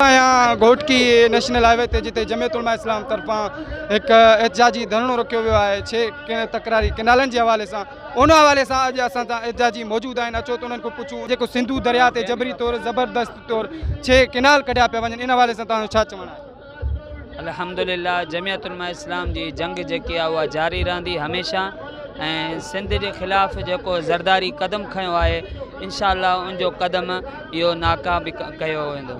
آهيان Ghotki national highway تي جتي جمعيت علماء اسلام طرفان هڪ احتجاجي ڌرڻو رکيو ويو آهي ڇي ڪنهن تڪراري ڪينالن جي حوالي سان ان حوالي سان اڄ اسان سان احتجاجي موجود آهن اچو ته انهن کان پڇون جيڪو سنڌو درياء تي جبري طور زبردست طور ڇي ڪينال ڪڍيا پيا وڃن ان حوالي سان تنهنجو ڇا چوڻ آهي الحمدللہ جمعيت علماء اسلام جي جنگ جيڪي آهي اها جاري رهندي هميشه ۽ سنڌ جي خلاف جيڪو زرداري قدم کنيو آهي انشاء الله ان جو قدم اهو ناڪا به ڪيو ويندو.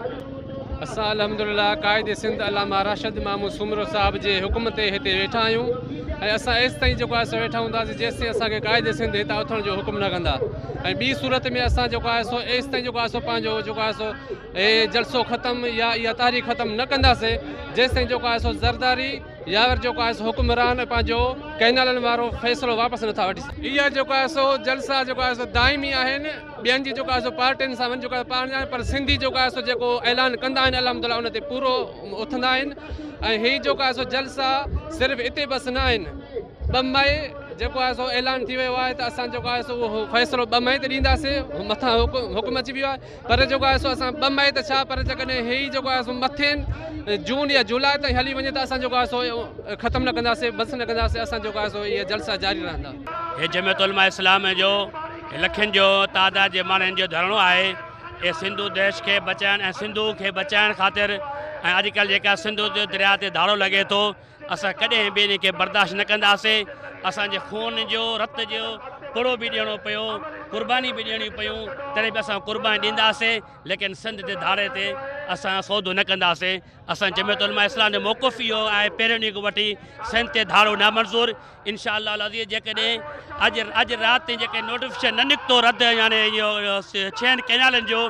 اسان الحمدلله قائد سنڌ علامه راشد مامو سومرو صاحب جي حڪم تي هتي ويٺا آهيون ۽ اسان ايستائين جيڪو آهي سو ويٺا هونداسين جيستائين اسان کي قائد سنڌ هتان اٿڻ جو حڪم نه ڪندا ۽ ٻي صورت ۾ اسان جيڪو آهي سو ايستائين جيڪو آهي سو پنهنجو جيڪو آهي سو هي جلسو ختم يا اها تاريخ ختم نه ڪنداسين جيستائين جيڪو آهي سو زرداري يا ور جيڪو آهي سو حڪمران پنهنجو ڪئنالن وارو فيصلو واپس نٿا وٺي سگهن اها جيڪو آهي سو جلسا جيڪو آهي سو دائمي آهن ٻين جي جيڪو آهي سو پارٽين سان وڃي جيڪو آهي پاڻ ڄاڻ پر سنڌي جيڪو آهي سو جيڪو اعلان ڪندا آهن الحمد لله ان تي پورو اٿندا آهن ۽ هي جيڪو آهي سو جلسا صرف اتي بس نه آهن ٻه مئي جيڪو آهي سو اعلان ٿي ويو آهي ته اسان جيڪو آهي سو اهو فيصلو ٻه مئي تي ڏينداسين مٿان حڪم اچي ويو آهي پر جيڪو آهي سو اسان ٻه مئي ته ڇا پر جيڪڏهن هي جيڪو آهي سو مٿين جون يا جولاء تائين هلي وڃي ته اسان جيڪو آهي سو ختم نه ڪنداسين بس نه ڪنداسين اسان جيڪو آهي سو اهي جلسا جاري رهندا هي جمعيت علماء اسلام جو لکين جو تعداد جي ماڻهن جو ڌرڻو آهي اي سنڌو ديش کي بچائڻ ۽ سنڌو کي بچائڻ خاطر ۽ اڄڪلهه جيڪا سنڌو جو درياء تي ڌاڙو لڳي ٿو اسان ڪڏهن به ان کي برداشت نه ڪنداسين اسان جي خون جو رت جو پڙو به ڏيڻو پيو قرباني به ڏيڻيون پيون تڏهن به اسان قرباني ڏينداسين ليڪن سنڌ جي ڌاڙي تي اسان سودو نه ڪنداسين اسان جمعيت علماء اسلام جو موقف اهو آهي پهريون ڏينهن کان وٺي سنڌ تي ڌاڙو نامنظور انشاء الله العزيز جيڪڏهن اڄ اڄ رات تائين جيڪي نوٽيفڪيشن نه نڪتو رد يعني ڇهن ڪينالن جو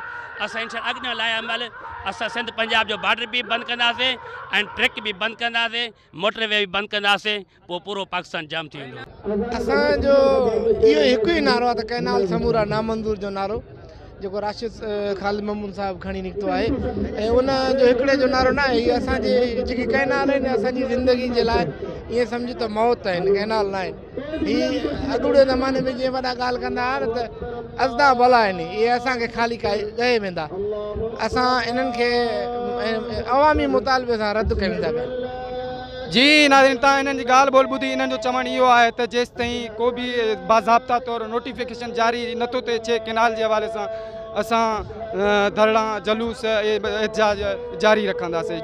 اسان انشاء اڳ نه لايا مل اسان سنڌ پنجاب جو بارڊر به بند ڪنداسين ۽ ٽريڪ به بند ڪنداسين موٽر وي به بند ڪنداسين پوء پورو پاڪستان جام ٿي ويندو. اسان جو اهو هڪ ئي نعرو آهي ته ڪئنال سمورا نامنظور جو نعرو جيڪو راشد خالد محمود صاحب کڻي نڪتو آهي ۽ ان جو هڪڙي جو نعرو نه آهي هي اسان جي جيڪي ڪئنال آهن اسان جي زندگي جي لاء ائين سمجهه ته موت آهن ڪئنال نه آهن هي اڳوڻي زماني ۾ جيئن وڏا ڳالهه ڪندا هئا نه ته ازدا ڀلا آهن اهي اسان کي خالي ڪاهي ڳهي ويندا اسان انهن کي عوامي مطالبي سان رد ڪيون ٿا ڪن جي ناظرين تان انهن جي ڳالهه ٻول ٻڌي انهن جو چوڻ اهو آهي ته جيس تائين ڪو به باضابطا طور نوٽيفڪيشن جاري نٿو ٿئي چي ڪينال جي حوالي سان اسان ڌرڻا جلوس احتجاج جاري رکنداسين